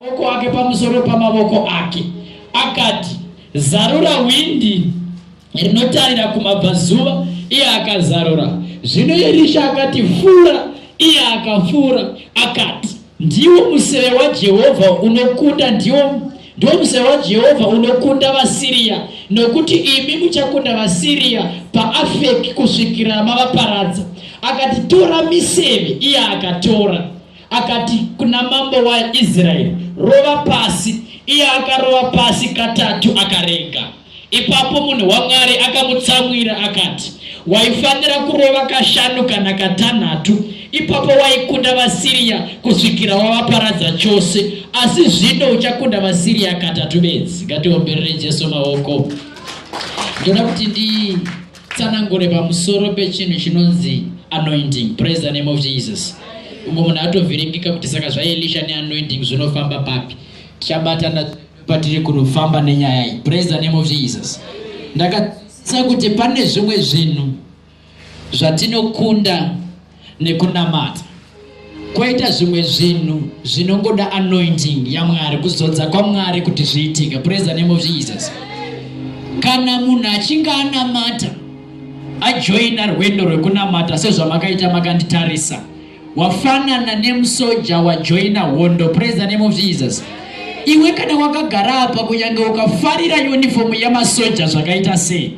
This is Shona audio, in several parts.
maoko ake pamusoro pamavoko ake akati zarura hwindi rinotarira kumabvazuva iye akazarura zvino erisha akati fura iye akafura akati ndiwo museve wajehovha unokunda ndiwo ndiwo museve wajehovha unokunda vasiriya nokuti imi muchakunda vasiriya paafeki kusvikira mavaparadza akati tora miseve iye akatora Akati kuna mambo waIsraeri, Rova pasi. Iye akarova pasi katatu akarega. Ipapo munhu waMwari akamutsamwira akati, Waifanira kurova kashanu kana katanhatu, ipapo waikunda vaSiriya kusvikira wavaparadza chose, asi zvino uchakunda vaSiriya katatu bedzi. Ngatiomberere Jesu maoko. Ndoda kuti ndi tsanangure pamusoro pechinhu chinonzi anointing praise the name of jesus umwe munhu atovhiringika kuti saka zvaelisha neanointing zvinofamba papi tichabatana patiri kunofamba nenyaya iyi praise the name of jesus ndakatsa kuti pane zvimwe zvinhu zvatinokunda nekunamata kwaita zvimwe zvinhu zvinongoda anointing yamwari kuzodza kwamwari kuti zviitike praise the name of jesus kana munhu achinge anamata ajoina rwendo rwekunamata sezvamakaita makanditarisa wafanana nemusoja wajoina hondo praise the name of jesus iwe kana wakagara apa kunyange ukafarira unifomu yamasoja zvakaita sei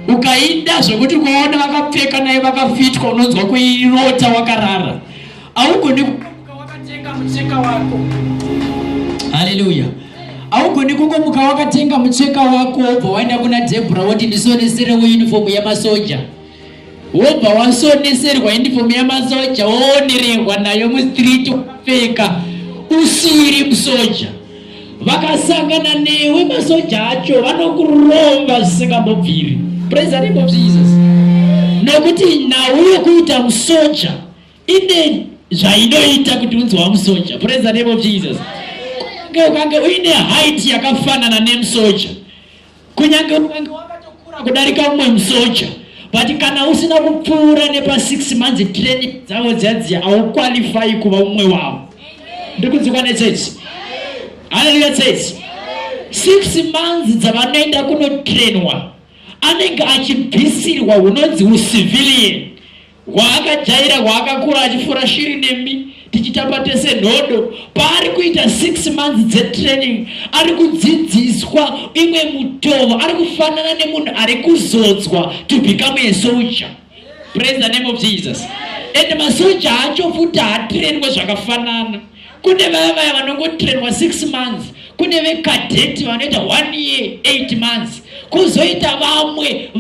ukaida zvekuti ukaona vakapfeka naye vakafitwa unonzwa kuirota wakarara augoni kukamuka wakatenga mucheka wako haleluya augoni kukomuka wakatenga mucheka wako wobva waenda kuna debra woti ndisonesere unifomu yamasoja wobva wasoneserwa unifomu yamasoja woonerehwa nayo mustreet wakapfeka usiri musoja vakasangana newe masoja acho vanokuromba zvisingambobviri praise the name of jesus nokuti nhau yokuita musoja ine zvainoita kuti unzi wamusoja praise the name of jesus kunge ukange uine height yakafanana nemusoja kunyange ukange wakatokura kudarika umwe musoja but kana usina kupfuura nepa six months training dzavo dziyadziya hauqualify kuva umwe wavo ndikudzikwa netsetse haleluya tsetse six months dzavanoenda kunotrainwa anenge achibvisirwa hunonzi ucivilian hwaakajaira hwaakakura achifura shiri nemi tichitamba tese nhodo paari kuita six months dzetraining ari kudzidziswa imwe mutovo ari kufanana nemunhu ari kuzodzwa to become a soldier praise the name of jesus and masoja acho futi haatrainwe zvakafanana Kune vaya vaya vanongotrainwa 6 months, kune vekadheti vanoita 1 year 8 months, kuzoita vamwe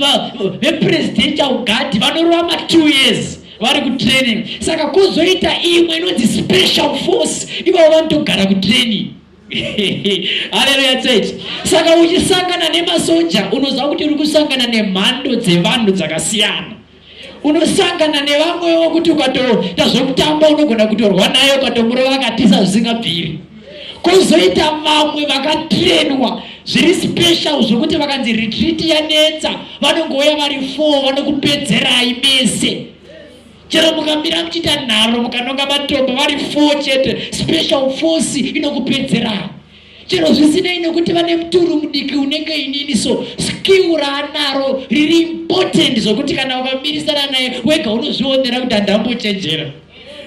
vepresidential guard vanorova ma 2 years vari kutraining. Saka kuzoita imwe inonzi special force, ivo vanotogara kutraining. haleluya church saka uchisangana nemasoja unoziva kuti uri kusangana nemhando dzevanhu dzakasiyana unosangana nevamwe wokuti ukatoita zvokutamba unogona kutorwa naye ukatomurova akatisa zvisingabviri kuzoita vamwe vakatirenwa zviri special zvokuti vakanzi retreat yanetsa vanongouya vari four vanokupedzerai mese chero mukamira muchiita nharo mukanonga matombo vari four chete special force inokupedzerai chero zvisinei nekuti vane muturu mudiki unenge inini so skill raanaro riri important zvokuti kana ukamirisana naye wega unozvionera kuti handambochenjera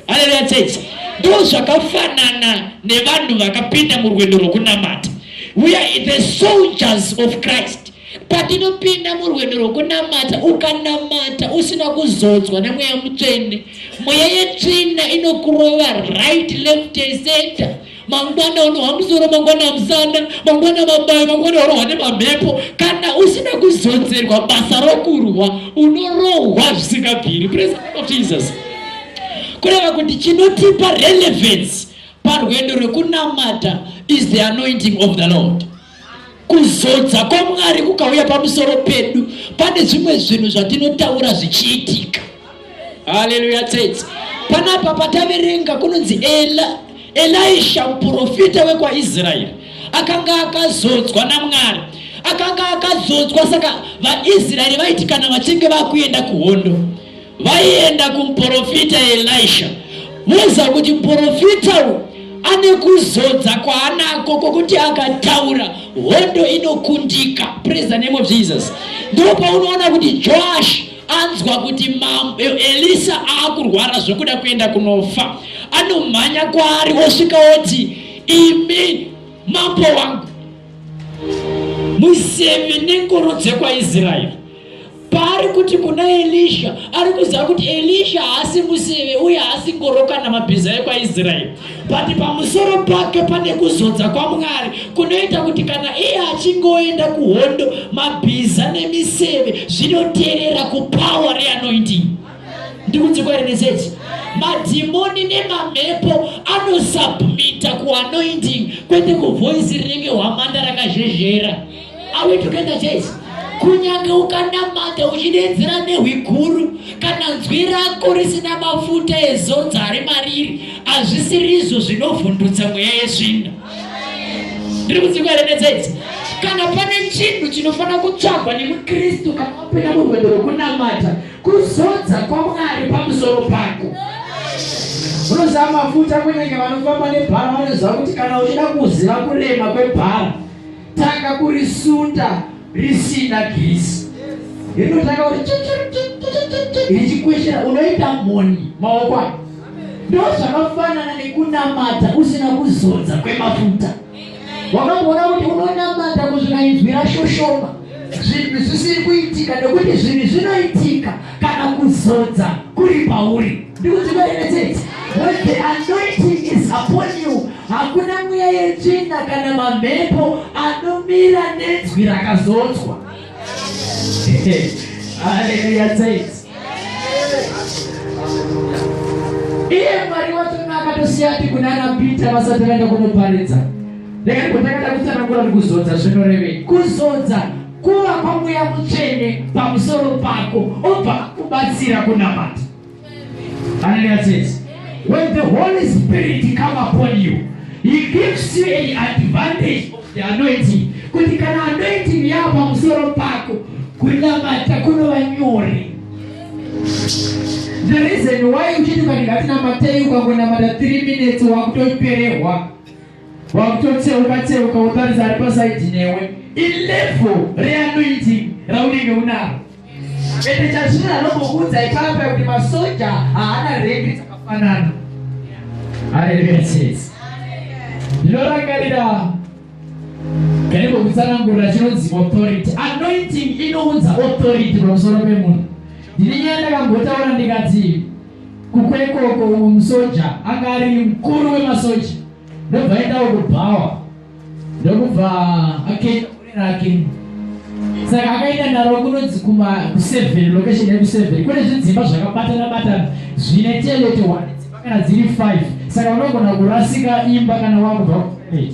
haleluya chechi ndo zvakafanana nevanhu vakapinda murwendo rwokunamata we are the soldiers of christ patinopinda murwendo rwokunamata ukanamata usina kuzodzwa nemweya mutsvene mweya yetsvina inokurova right left center mangwana unohwa musoro mangwana musana mangwana mabayo mangwana unohwa nemamhepo kana usina kuzodzerwa basa rokurwa unorohwa zvisingabviri praise of jesus kureva kuti chinotipa relevance parwendo rwekunamata is the anointing of the lord kuzodza kwamwari kukauya pamusoro pedu pane zvimwe zvinhu zvatinotaura zvichiitika haleluya tsetse panapa pataverenga kunonzi ela elisha muprofita wekwaisraeri akanga akazodzwa namwari akanga akazodzwa saka vaisraeri vaiti kana vachinge vakuenda kuhondo vaienda kumuporofita Elisha voza kuti muporofita uyu ane kuzodza kwaanako kwokuti akataura hondo inokundika praise the name of jesus ndipo paunoona kuti joash anzwa kuti mambo elisa aakurwara zvokuda kuenda kunofa anomhanya kwaari osvika oti imi mambo wangu museve nengoro dzekwaisraeri paari kuti kuna elisha ari kuziva kuti elisha haasi museve uye haasi ngoro kana mabhiza ekwaisraeri but pamusoro pake pane kuzodza kwamwari kunoita kuti kana iye achinge oenda kuhondo mabhiza nemiseve zvinoterera kupower reanointing ndikudzikwairi neseti madhimoni nemamhepo anosubmita kuanointing kwete kuvoisi rinenge hwamanda rakazhezhera Are we together church? Kunyange ukanamata uchidedzera nehwi guru kana nzwi rako risina mafuta ezodza ari mariri hazvisirizvo zvinovhundutsa mweya yesvinda. Ndiri kudzingwa here netsetse? Kana pane chinhu chinofanira kutsvagwa nemuKristu kana wapinda murwendo rwekunamata kuzodza kwaMwari pamusoro pako. Unoziva mafuta kunyange vanofamba nebhara vanoziva kuti kana uchida kuziva kurema kwebhara tanga kurisunda risina girisi rinotanga kuti richikweshera unoita mhoni maoko ayo ndo zvakafanana nekunamata usina kuzodza kwemafuta wakamboona kuti unonamata kuzvikainzwira shoshoma zvinhu zvisiri kuitika nekuti zvinhu zvinoitika kana kuzodza kuri pauri ndikuti vaemetete when the anointing is upon you hakuna mweya yetsvina kana mamhepo anomira nenzwi rakazodzwa haleluya tete iye mwari watona akatosiya ati kunana pita vasati vaenda kunoparidza rekandigotakata kutsanangura kuti kuzodza zvinorevei kuzodza Kuva kwaMweya Mutsvene pamusoro pako obva akubatsira kunamata. Hallelujah says, when the Holy Spirit come upon you, he gives you an advantage of the anointing. Kuti kana anointing yava pamusoro pako, kunamata kunova nyore. The reason why uchiti kana ngatinamateyi ukangonamata 3 minutes wakutoperehwa wakutotseuka tseuka wotaridza ari pasaidi newe ilevel reanointing raunenge unaro ende chazvino anokuudza ipapa kuti masoja haana rengi dzakafanana haleluya chese ndinorangarira kaniko kutsanangurira chinonzi authority anointing inounza authority pamusoro pemunhu ndine nyaya ndakambotaura ndikati Kukwekoko uyu musoja anga ari mukuru wemasoja ndobva aendawo kubhawa ndokubva akaita gore rake saka akaenda naro kunonzi kuma kuseven location yekuseven kune zvidzimba zvakabatana batana zvine telete one dzimba kana dziri five saka unogona kurasika imba kana wakubva kutoilet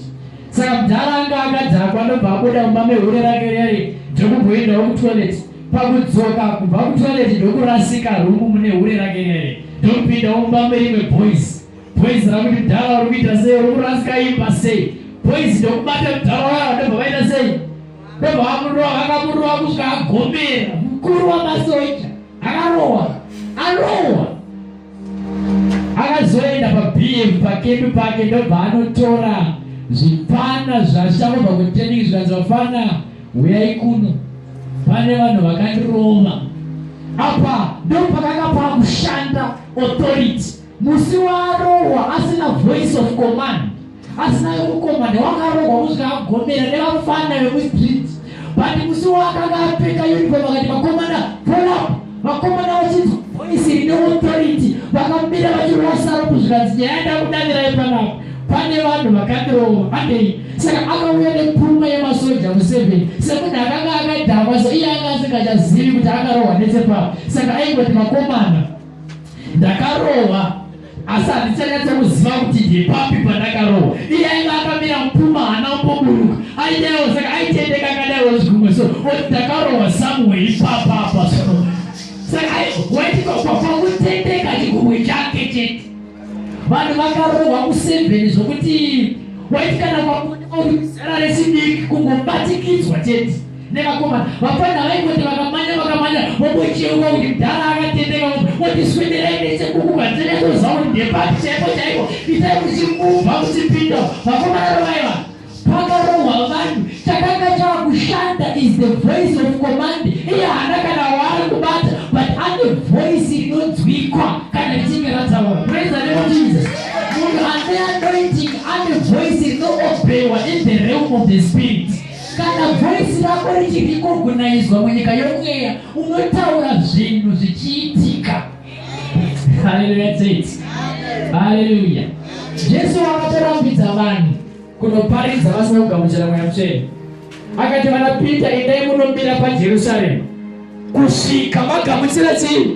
saka mudhara anga akadhakwa ndobva abuda mumba mehure rake rere ndokumboendawo kutoilet Pakudzoka kubva kutoilet ndokurasika room mune hure rake rere ndopinda umba merimwe boys boys rakuti mdhara uri kuita sei uri kurasika imba sei boys ndokubata mdhara waya ndobva vaita sei ndobva vamurowa vakamurowa kusvika agomera mukuru wamasoja akarowa arowa akazoenda pabm pakembi pake ndobva anotora zvipana zvashamobva kutening zvikanzi vafana Huyai kuno, pane vanhu vakandirova. Apa ndopakanga pakushanda authority. Musi waarohwa asina voice of command, asina yokukomanda, wakarohwa kusvika agomera nevafana vemustreet. But musi waakanga apfeka uniform akati makomanda, pull up vakomana vachinzwa voisi rine authority vakamira vachirova saro kuzvikanzi nyaya ndakudavirayo panapa pane vanhu vakandirova vadei saka akauya nepfuma yemasoja museveni semunhu akanga akadhakwa so iye anga asingachazivi kuti akarohwa netsepapa saka aingoti vakomana ndakarohwa asi handichanyatsa kuziva kuti ndepapi pandakarohwa iye aiva akamira mupfuma hana umboburuka aidaiwo saka aitendeka akadaiwo zvikumwe so oti ndakarohwa somewhere ipapa apa so saka waitipakutendeka chikumwe chake chete vanhu vakarohwa kusevheni zvokuti waiti kana kwakuonekwa kuti zera residiki kungobatikidzwa chete nevakomana vapfana vaingoti vakamanya vakamanya vobocheuka kuti mdhara akatendeka motiswederai nechekuku vanzenyazoziva kuti ndepati chaipo chaipo itai kuchimubva kuchipinda vakomana rovaiva pakarohwa vanhu chakanga chakushanda is the voice of command iye hana kana waari kubata but ane voice inonzwikwa kana richinge rataura praise the name of jesus munhu ane anointing ane voice inoobhewa in the realm of the spirit Kana voice rako richirikogunaizwa munyika yomweya unotaura zvinhu zvichiitika. Haleluya tete. Haleluya. Jesu akatorambidza vanhu kunoparidza vasina kugamuchira mweya mutsvene. Akati vana Peter endai munomira paJerusarema kusvika magamuchira chii?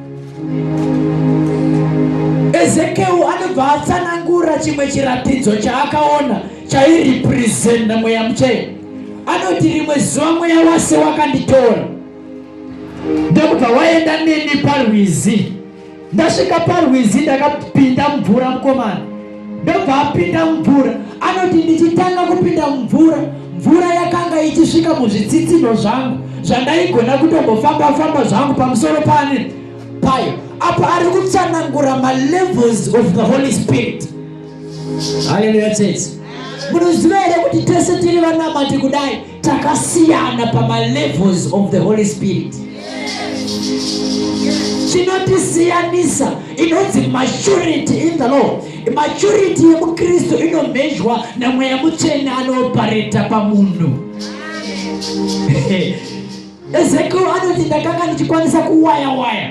Ezekiel anobva atsanangura chimwe chiratidzo chaakaona chairepresenta mweya muchena. Anoti rimwe zuva mweya wase wakanditora ndokubva waenda neni parwizi. Ndasvika parwizi ndakapinda mvura mukomana ndobva apinda mumvura anoti ndichitanga kupinda mumvura mvura yakanga ichisvika muzvitsitsino zvangu zvandaigona kutombofamba famba zvangu pamusoro pane payo apo ari kutsanangura malevels of the holy spirit haleluya tsetse munoziva here kuti tese tiri vanamati kudai takasiyana pamalevels of the holy spirit chinotisiyanisa inonzi maturity in the law maturity yemukristu inomhezhwa namweya mutsvene anopareta pamunhu Ezekiel anoti ndakanga ndichikwanisa kuwaya waya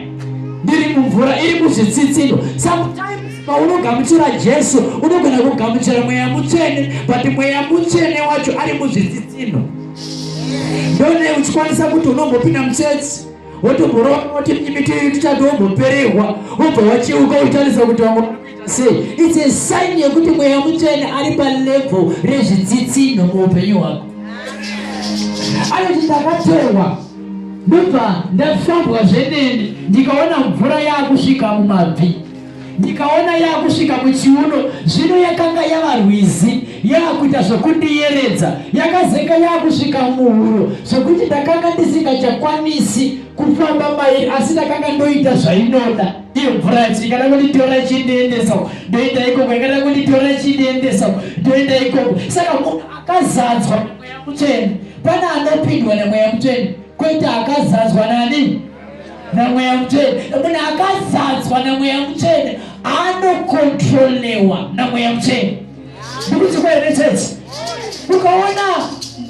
ndiri mumvura iri muzvitsitsindo sometimes paunogamuchira jesu unogona kugamuchira mweya mutsvene but mweya mutsvene wacho ari muzvitsitsindo ndone uchikwanisa kuti unombopinda mutsetse wotomborova kuti miti tichati womboperehwa wobva wacheuka uchitarisa kuti wango Sei? It's a sign yekuti mweya mutsvene ari palevel rezvitsitsinho muupenyu hwako. Anoti ndakatorwa ndobva ndafambwa zvenene ndikaona mvura yaakusvika mumabvi ndikaona yaakusvika muchiuno zvino yakanga yava rwizi yaakuita zvokundiyeredza yakazeka yaakusvika muhuro zvokuti ndakanga ndisingachakwanisi kufamba mairi asi ndakanga ndoita zvainoda iyo mvura yacho ikada kunditora ichindiendesa uko ndoenda ikoko ikada kunditora ichindiendesa uko ndoenda ikoko saka munhu akazadzwa nemweya mutsvene pane anopindwa nemweya mutsvene kwete akazadzwa nani namweya mutsvene munhu akazadzwa namweya mutsvene anokontrolewa namweya mutsvene ndikuti kwene tete ukaona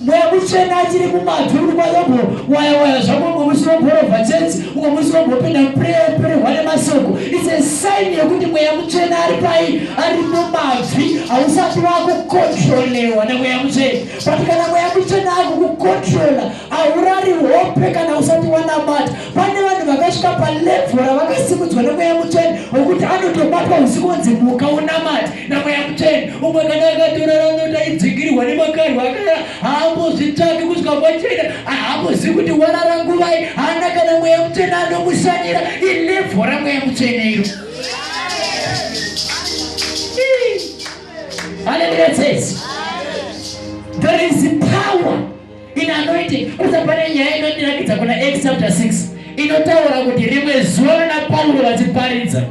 mweya mutsvene achiri kumadhuru kwayobo waya waya zvako umwe musi womborova tete umwe musi wombopinda mupurehwa nemasoko its a sign yekuti mweya mutsvene ari pai ari mumabvi hausati wakukontrolewa nemweya mutsvene but kana mweya mutsvene akukukontrola haurari hope kana usati wanamata pane vanhu vakasvika palevho ravakasimudzwa nemweya mutsvene wekuti anotobatwa usiku onzi muka unamati namweya mutsvene umwe kana akatorara nota idzingirwa nemakarwa akara haambozvitsvaki kusvika kwachena haambozivi kuti warara nguvai haana kana mweya mutsvene anomusanyira ilevho ramweya mutsvene iro haleluya tsesi there is power In anointing, kusa pane nyaya inotirakidza kuna Acts chapter 6 inotaura kuti rimwe zuva vana Pauro vachiparidza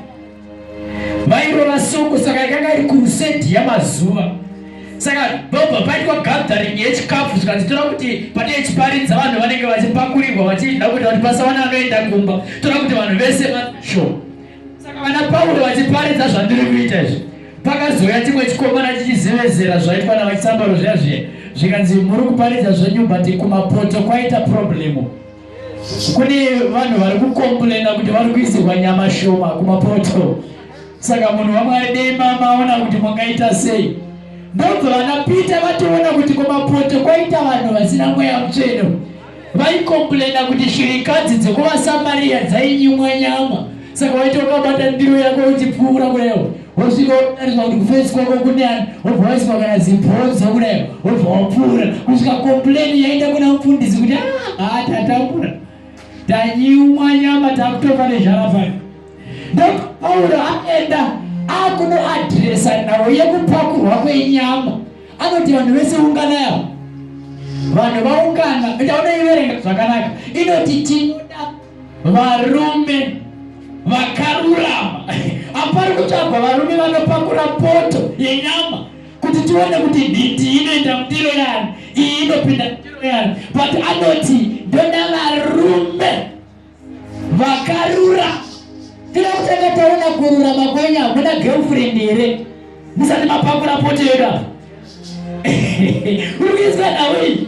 vairova suku, saka ikanga iri crusade yamazuva saka bobva paitwa gathering yechikafu zvikanzitora kuti pane chiparidza vanhu vanenge vachipakurirwa vachida kuti vati pasawana anoenda kumba tora kuti vanhu vese vasho Saka vana Pauro vachiparidza zvandiri kuita izvi, pakazouya chimwe chikomana chichizevezera zvaitwa navachisambaro zviya zviya, zvikanzi muri kuparidza zvenyu but kumapoto kwaita problemu. Kune vanhu vari kukomplena kuti vari kuisirwa nyama shoma kumapoto. Saka munhu waMwari dei mamaona kuti mungaita sei. Ndobva vana Peter vatoona kuti kumapoto kwaita vanhu vasina mweya mutsvene. Vaikomplaina kuti shirikadzi dzekuvaSamaria dzainyimwa nyama saka waiti wakabata ndiro yako uchipfuura kurewo wosvika wotariswa kuti kufesi kwako kunani wobva waiswa kana zibhonzo kurewo wobva wapfuura kusvika komplaini yaenda kuna mufundisi kuti ah, haa tatapura tanyimwa nyama takutofa nezharafani ndopauro aenda akunoadresa nhau yekupakurwa kwenyama anoti vanhu vese unganai avo vanhu vaungana ndaona iverenga zvakanaka inoti tinoda varume vakarurama hapari kutsvagwa varume vanopakura poto yenyama kuti tione kuti nhiti inoenda mundiro yani iyi inopinda mundiro yani but anoti ndoda varume vakarura tira kutanga taona kurura makwenya hakuda girlfriend here musati mapakura pote yedu apa urikuizwa nawi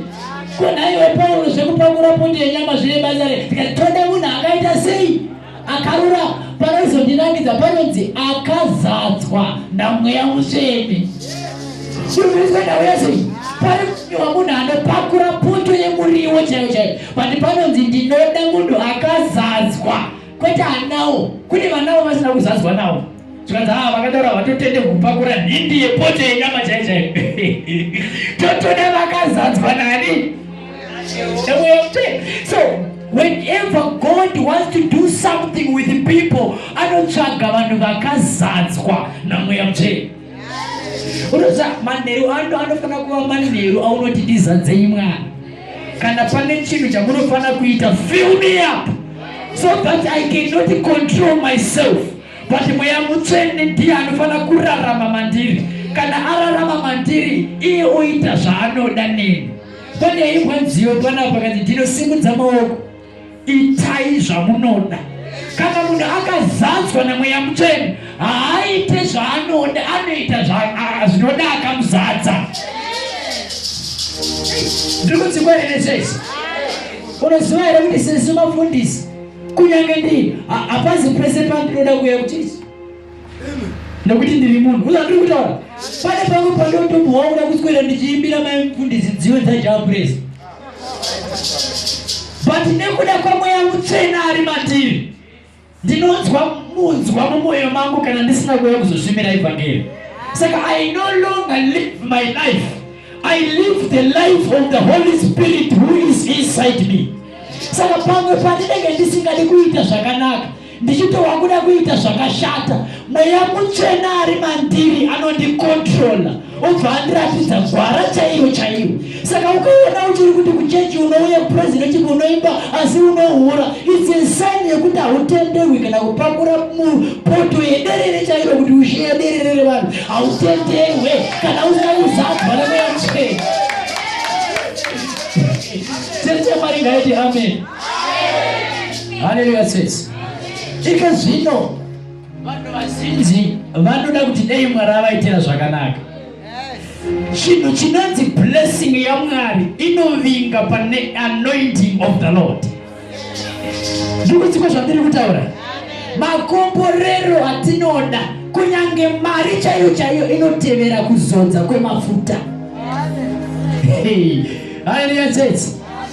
konaiwe pauro zvekupakura pote yenyama zvine basa re tikatoda munhu akaita sei akarura panoizondinangidza panonzi akazadzwa namweya musveni urikuizwa nawi yasei pari kunyiwa munhu anopakura poto yemuriwo chaiyo chaiyo But panonzi ndinoda munhu akazadzwa kwete anawo. Kune vanawo vasina kuzadzwa nawo. Zvikanzi haa ah, vakataura vatotende kupakura nhindi yepoto yenyama chai chai. Totoda vakazadzwa nani? So whenever God wants to do something with people anotsvaga vanhu vakazadzwa namweya mutsvene. unoziva manheru ano anofanira kuva manheru aunoti ndizadzei mwana kana pane chinhu chamunofanira kuita fill me up so that i cannot control myself but mweya mutsvene ndiye anofanira kurarama mandiri kana ararama mandiri iye oita zvaanoda neni pane imwe nziyo panapa kati ndinosimudza maoko itai zvamunoda kana munhu akazadzwa nemweya mutsvene haaite zvaanoda anoita zvinoda akamuzadza ndiri kudzingwa here sesi unoziva here kuti sesi mafundisi kunyange ndii hapazi pese pandinoda kuya kuti nekuti ndiri munhu kuza ndiri kutaura pane pamwe pandotobuwa kuda kuswera ndichiimbira mai mfundisi dziwe dzajaapres but nekuda kwamweya mutsvena ari mativi ndinonzwa munzwa mumwoyo mangu kana ndisina kuuya kuzosvimira evhangeri saka i no longer live my life i live the life of the holy spirit who is inside me saka pamwe pandinenge ndisingadi kuita zvakanaka ndichitowa kuda kuita zvakashata mweya mutsvena ari mandiri anondikontrola obva andiratidza gwara chaiyo chaiyo saka ukaona uchiri kuti kuchechi unouya kuprezidenti chii unoimba asi unohura its insani yekuti hautenderwi kana kupakura mupoto yederere chairo kuti ushiye derere revanhu hautenderwe kana usina kuzadzwa nemweya mutsvena tete mari ngaiti amen haleluya sesi ike zvino vanhu vazhinji vanoda kuti dei mwari avaitira zvakanaka chinhu chinonzi blessing yamwari inovinga pane anointing of the lord ndikudziko zvandiri kutaura makomborero atinoda kunyange mari chaiyo chaiyo inotevera kuzodza kwemafuta haleluya church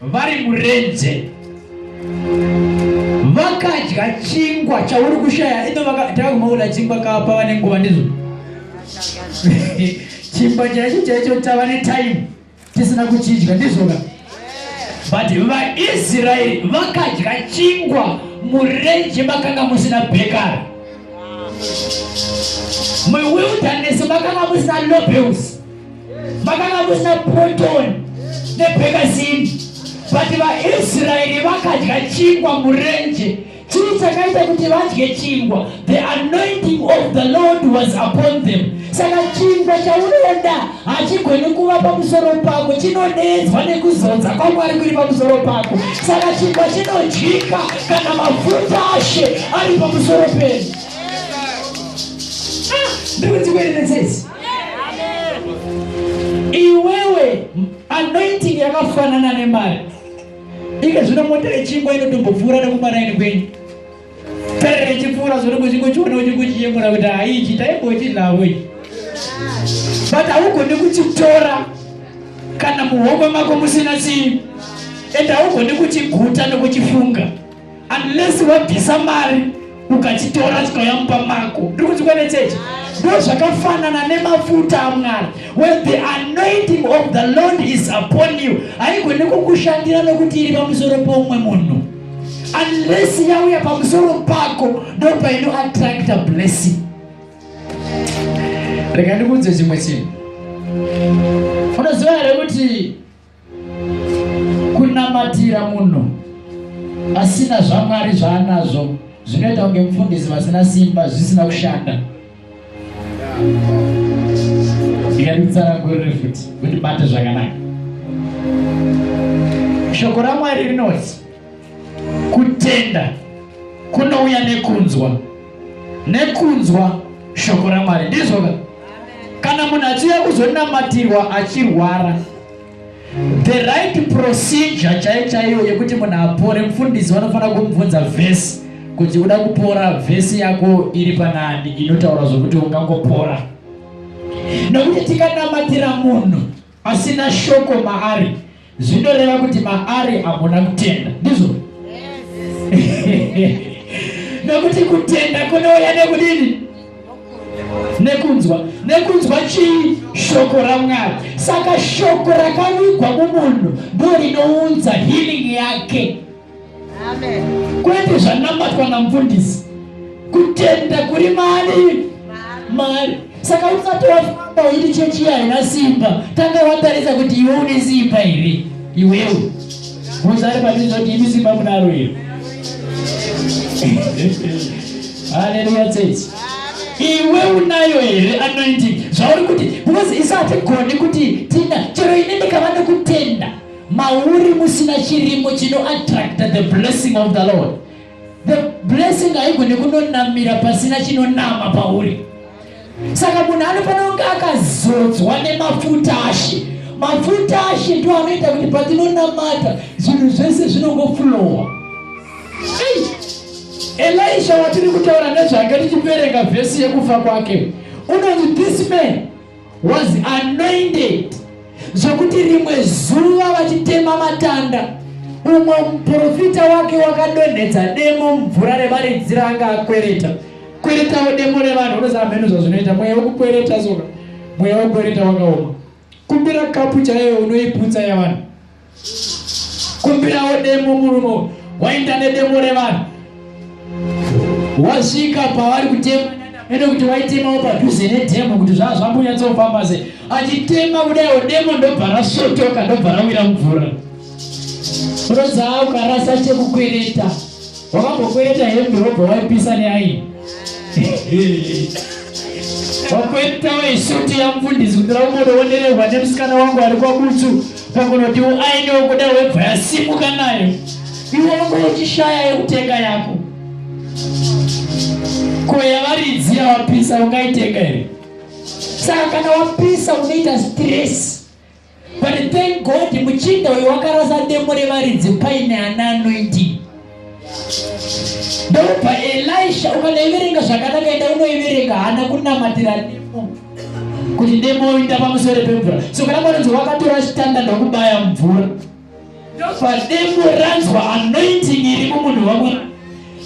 vari murenze vakadya chingwa chauri kushaya ino takakumaona chingwa kapa vane nguva ndizvo chingwa chaicho chaicho tava netime tisina kuchidya ndizvoka but vaisraeri vakadya chingwa murenje makanga musina bekara muwilderness makanga musina lobels vakanga kusina proton nebhekazini but vaisraeri vakadya chingwa murenje chii chakaita kuti vadye chingwa the anointing of the lord was upon them saka chingwa chaunoda hachigoni kuva pamusoro pako chinonedzwa nekuzodza kwamwari kuri pamusoro pako saka chingwa chinodyika kana mafuta ashe ari pamusoro penyu ah, ndikuti kuerenesesi iwewe anointing yakafanana nemari ike zvino mota yechingwa inotombopfuura nekumaraini kwenyu tarira ichipfuura zvino kuchingochiona uchingochiyemura kuti haichi taimbochidlavo ichi but haugoni kuchitora kana muhomwe mako musina chii and haugoni kuchiguta nekuchifunga unless wabvisa mari ukachitora chikauya mumba mako ndiri kuti kwene chechi ndo zvakafanana nemafuta amwari when the anointing of the lord is upon you haigone kukushandira nokuti iri pamusoro pomumwe munhu unless yauya pamusoro pako ndo paino attracta blessing rega ndikuudze chimwe chinhu unoziva here kuti Kunamatira munhu asina zvaMwari zvaanazvo zvinoita kunge mufundisi vasina simba zvisina kushanda. Ndikatitsanangurire futi kuti bate zvakanaka. Shoko raMwari rinoti Kutenda kunouya nekunzwa, nekunzwa shoko raMwari. Ndizvo ka? Kana munhu achiuya kuzonamatirwa achirwara, the right procedure chaiyo chaiyo yekuti munhu apore, mfundisi vanofanira kumubvunza vhesi kuti uda kupora, vhesi yako iri panani inotaura zvokuti ungangopora. Nokuti tikanamatira munhu Pasina shoko maari zvinoreva kuti maari hamuna kutenda, ndizvo? Yes. Nokuti kutenda kunouya nekudini? Nekunzwa. Nekunzwa chii? Shoko raMwari. Saka shoko rakavigwa mumunhu ndorinounza healing yake. kwete zvanamatwa namfundisi kutenda kuri mari mari saka usati wafamba uiti chechi haina simba tanga watarisa kuti iwe une simba here iwewe muzari patizoti imi simba munaro iro haleluya tsetse iwe unayo here anointing zvauri kuti because isatigoni kuti tina chero ine ndikava nekutenda Mauri musina chirimo chino attracta the blessing of the Lord. The blessing haigone kunonamira pasina chinonama pauri. Saka munhu anofanira kunge akazodzwa nemafuta ashe. Mafuta ashe ndiwo anoita kuti patinonamata zvinhu zvese zvinongoflowa. Elisha watiri kutaura nezvake tichiverenga vhesi yekufa kwake unonzi this man was anointed zvekuti rimwe zuva vachitema matanda umwe muprofita wake wakadonhedza demo mumvura revaridzi raanga akwereta kweretawo demo revanhu unoziva mheno zvazvinoita mweya wekukwereta soka mweya wekukwereta wakaoma kumbira kapu chaiyo unoiputsa yavanhu kumbirawo demo murumo waenda nedemo revanhu wasvika pavari kutema ende kuti waitemawo padhuze nedemo kuti zvaa zvambonyatsofamba se achitema kudaiwo demo ndobva rasotoka ndobva rawira mvura rodzaa ukarasa chekukwereta Wakambokwereta hembe wobva waipisa neaini. Wakweretawo isuti yamufundisi kuti raungodoondererwa nemusikana wangu ari kwabutsu pakunoti uaini wokuda webva yasimuka nayo. Iwe unge uchishaya yekutenga yako. Ko yavaridzi yawapisa ungaitenga here? Saka kana wapisa unoita stress. But thank God muchinda uyu wakarasa demo revaridzi paine ana anoindi ndobva elisha ukanoiverenga zvakanaka enda unoiverenga hana kunamatira demo kuti demo oinda pamusoro pemvura so kana mwanonzi wakatora chitanda ndokubaya mvura Ndobvademo ranzwa anointing iri mumunhu wamwari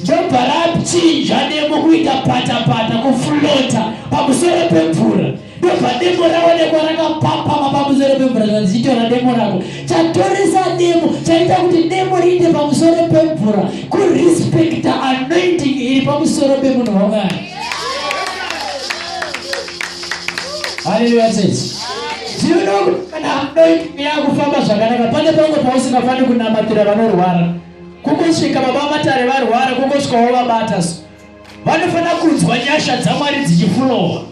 ndobva rapchinja demo kuita patapata kuflota pamusoro pemvura ndobva demo raonekwa rakapapama pamusoro pemvura zvazichitora demo rako chatoresa demo chaita kuti demo riite pamusoro pemvura kurespecta anointing iri pamusoro pemunhu wamwari haleluya tete Zvinoda kuti kana hamdoitike yakufamba zvakanaka pane pamwe pausingafaniri kunamatira vanorwara. Kungosvika baba matare varwara kungosvika wavabata so. Vanofanira kunzwa nyasha dzaMwari dzichifurowa.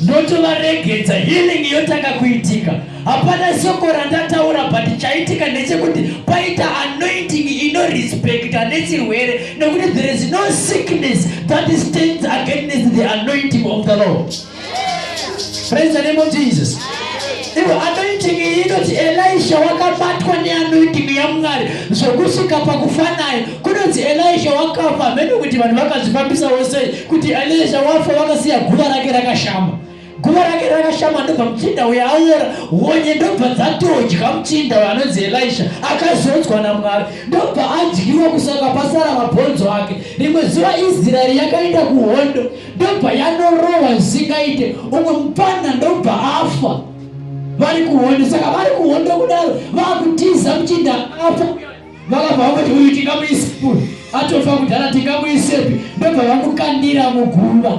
Ndotovaregedza healing yotanga kuitika. Hapana soko randataura but chaitika ndechekuti paita anointing inorespecta nechirwere nekuti there is no sickness that stands against the anointing of the Lord. Praise the name of Jesus. Ivo anoiting iyi inoti Elisha wakabatwa neanoiting yaMwari zvokusvika pakufa naye. Kunonzi Elisha wakafa hameno kuti vanhu vakazvifambisawo sei kuti Elisha wafa wakasiya guva rake rakashama. Guva rake rakashama ndobva muchinda uyo aora honye ndobva dzatodya muchinda uyo anonzi Elisha akazodzwa naMwari ndobva adyiwa kusaka pasara mabhonzo ake. Rimwe zuva Israeri yakaenda kuhondo ndobva yanorowa zvisingaite umwe mupfanha ndobva afa vari kuhondo saka vari kuhondo kudaro vakutiza muchinda afa vakabva vakuti uyu tingamuise atofa kudhara tingamuisepi ndobva vamukandira muguva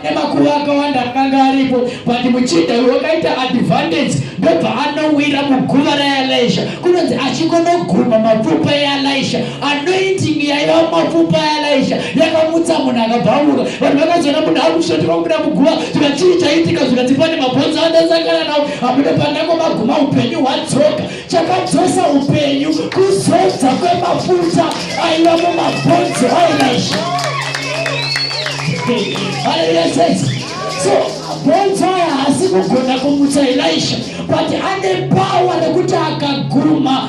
nemakuva akawanda akanga aripo but muchinda uyu wakaita advantage ndobva anowira muguva raelisha kunonzi achingonoguma mapfupa eelisha anointing yaiva mumapfupa aelaisha yakamutsa munhu akabvamuka vanhu vakazoona munhu akushotika kubuda muguva tika chii chaitika zvikati pane mabhonzo andasangana nawo amude pandango maguma upenyu hwadzoka chakadzosa upenyu kuzodza kwemafuta aiva mumabhonzo aelaisha haleluya sese so mabhonzo aya haasi kugona kumutsa elaisha but ane pawa rekuti akaguma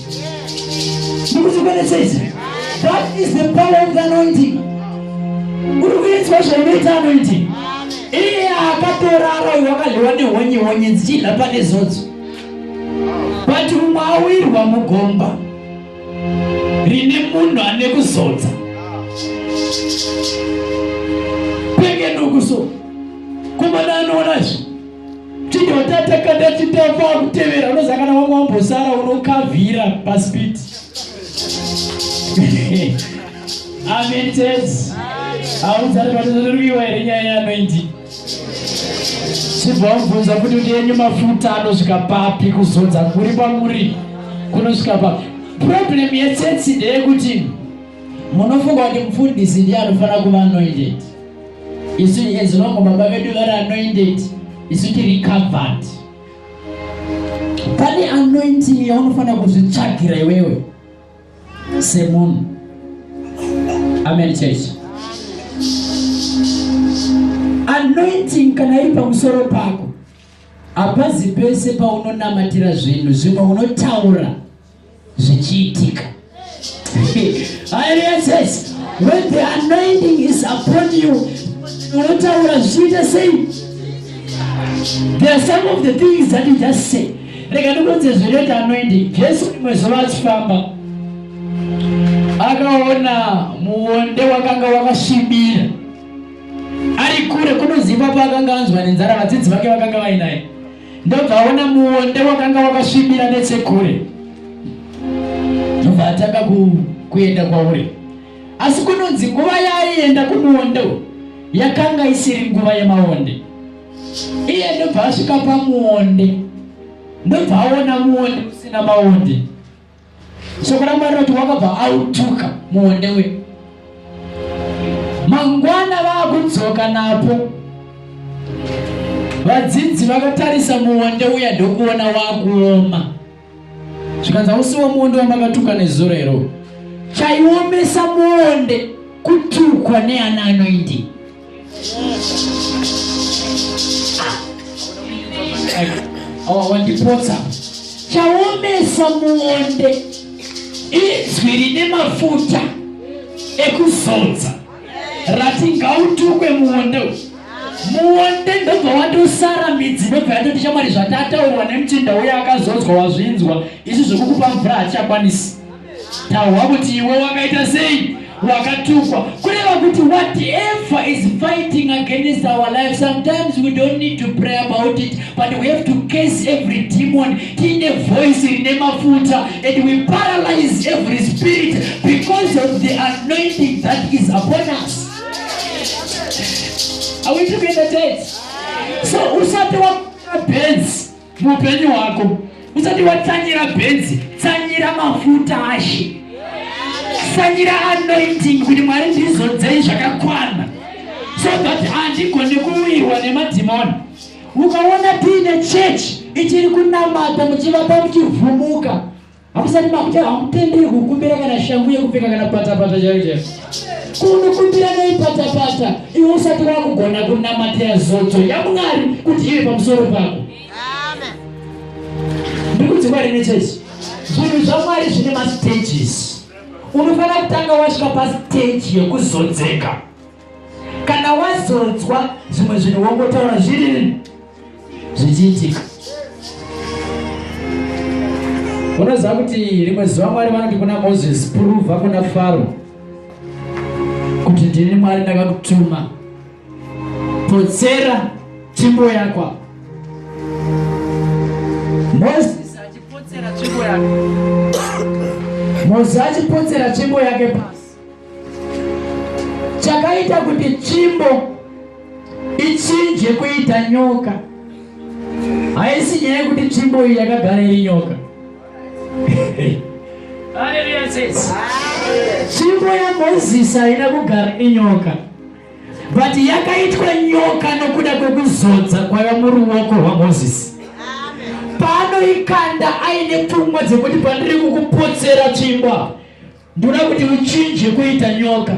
That is the power of the anointing. Uri kuitwa zvaunoita anointing. Iye akatorara uyu wakadliwa nehonye honye dzichidla pane zodzo. But umwe awirwa mugomba rine munhu ane kuzodza. Penge ndukuso. Kumana anoona zvi. Chidotata kanda chitafa akutevera unozakana wangu wambosara unokavhira paspiti. Amen church. Haudzari patozorwiwa here nyaya yanoindi. Chibva wabvunza kuti kuti yenyu mafuta anosvika papi kuzodza kuri kwamuri kunosvika papi. Problem yechurch ndeyekuti munofunga kuti mufundisi ndiye anofanira kuva anoindeti. isu as long baba vedu vari anointed isu tiri covered pane anointing yaunofanira kuzvitsvagira iwewe semunhu amen church anointing kana iri pamusoro pako hapazi pese paunonamatira zvinhu zvimwe unotaura zvichiitika haleluya church when the anointing is upon you unotaura zvichiita sei there are some of the things that you just say rega ndikuudze zvinoita anointing jesu rimwe zuva achifamba akaona muonde wakanga wakasvibira ari kure kunoziva paakanga anzwa nenzara vadzidzi vake vakanga vainaye ndobva aona muonde wakanga wakasvibira nechekure ndobva atanga kuenda kwauri asi kunonzi nguva yaaienda kumuonde yakanga isiri nguva yemaonde iye ndobva asvika pamuonde ndobva aona muonde usina maonde Soko raMwari rinoti wakabva autuka muonde we mangwana vakudzoka napo. Vadzidzi vakatarisa muonde uya ndokuona wakuoma, zvikanzi hausiwo muonde wamakatuka nezuro iro. Chaiomesa muonde kutukwa neana anoindi awawandipotsa chaomesa muonde izwi rine mafuta ekuzodza rati ngautukwe muonde muonde ndobva watosara midzi ndobva yatoti chamwari zvatataurwa nemuchinda uye akazodzwa wazvinzwa izvi zvekukupa mvura hatichakwanisi Tahwa kuti iwe wakaita sei? Wakatukwa. Kureva kuti whatever is fighting against our life, sometimes we don't need to pray about it, but we have to case every demon in a voice in a mafuta, and we paralyze every spirit because of the anointing that is upon us. Are we together, guys? So, usati wa benzi muupenyu hwako usati watsanyira benzi tsanyira mafuta ashe tsanyira anointing kuti mwari ndizodzei zvakakwana so that handigone kuwirwa nemadhimoni ukaona tiine chechi ichiri kunamata muchivapa muchivhumuka Hakusati makuti hamutenderwi kukumbira kana shangu yekupfeka kana patapata chaiyo chaiyo. Kunokumbira nei patapata iwe usati wakugona kunamatira zodzo yaMwari kuti ive pamusoro pako. Ndikuti Mwari nechechi. Zvinhu zvaMwari zvine mastages. Unofanira kutanga wasvika pastage yekuzodzeka. Kana wazodzwa zvimwe zvinhu wongotaura zviri zvichiitika unoziva kuti rimwe zuva mwari vanoti kuna mozisi puruva kuna faro kuti ndini mwari ndakakutuma potsera tsvimbo yakwa mozisi achipotsera tsvimbo yake mozisi achipotsera tsvimbo yake pasi chakaita kuti tsvimbo ichinje kuita nyoka haisi nyaya yekuti tsvimbo iyi yakagara iri nyoka tsvimbo yamozisi haina kugara inyoka but yakaitwa nyoka nokuda kwekuzodza kwaiva muruoko rwamozisi pano ikanda aine pfungwa dzekuti pandiri kukupotsera tsvimbo Ndoda kuti uchinje kuita nyoka.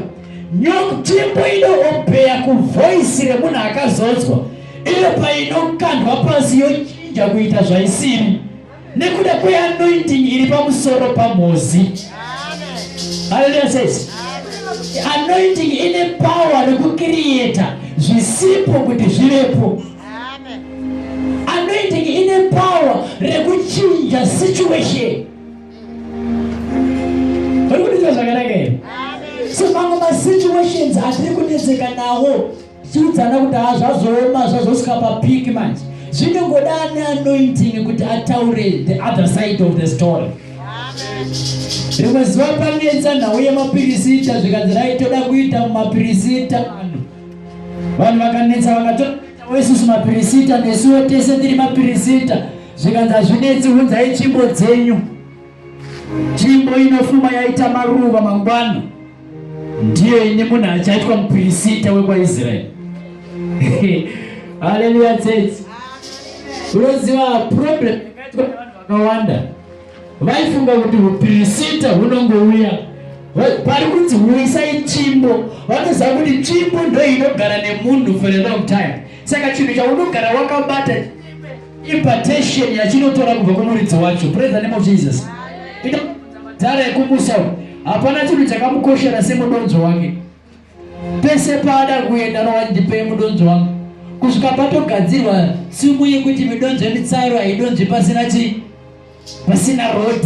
Nyoka timbo inoombeya kuvoisi remunhu akazodzwa iyo painokandwa pasi yochinja kuita zvaisiri nekuda kweanointing iri pamusoro pamhozi. Haleluya sesi. Anointing ine power rekukiriyeta zvisipo kuti zvivepo. Anointing ine power rekuchinja situation. Muri kundinzwa zvakanaka here? So mamwe masituations atiri kunetseka nawo tiudzana kuti haa zvazooma zvazosvika papiki manje zvinongoda ane anointing kuti ataure the other side of the story rimwe zuva panetsa nhau yemapirisita zvikanzirai toda kuita mumapirisita vanhu vanhu vakanetsa vakatoita wesusu mapirisita nesuwo tese tiri mapirisita zvikanzi hazvinetsi unzai tsvimbo dzenyu tsvimbo inofuma yaita maruva mangwana ndiyo ini munhu achaitwa mupirisita wekwaisraeri haleluya tsetse unoziva problem yakaitwa nevanhu vakawanda vaifunga kuti upirisita hunongouya pari kunzi huisai tsvimbo vanoziva kuti tsvimbo ndoinogara nemunhu for a long time saka chinhu chaunogara wakabata Impartation yachinotora kubva kumuridzi wacho. Praise the name of Jesus. Ita dzara yekumusa. Hapana chinhu chakamukoshera semudonzo wake. Pese paada kuenda no ndipe mudonzo wangu. Kusvika patogadzirwa simu yekuti midonzo yemitsaro haidonzvi pasina chi pasina road.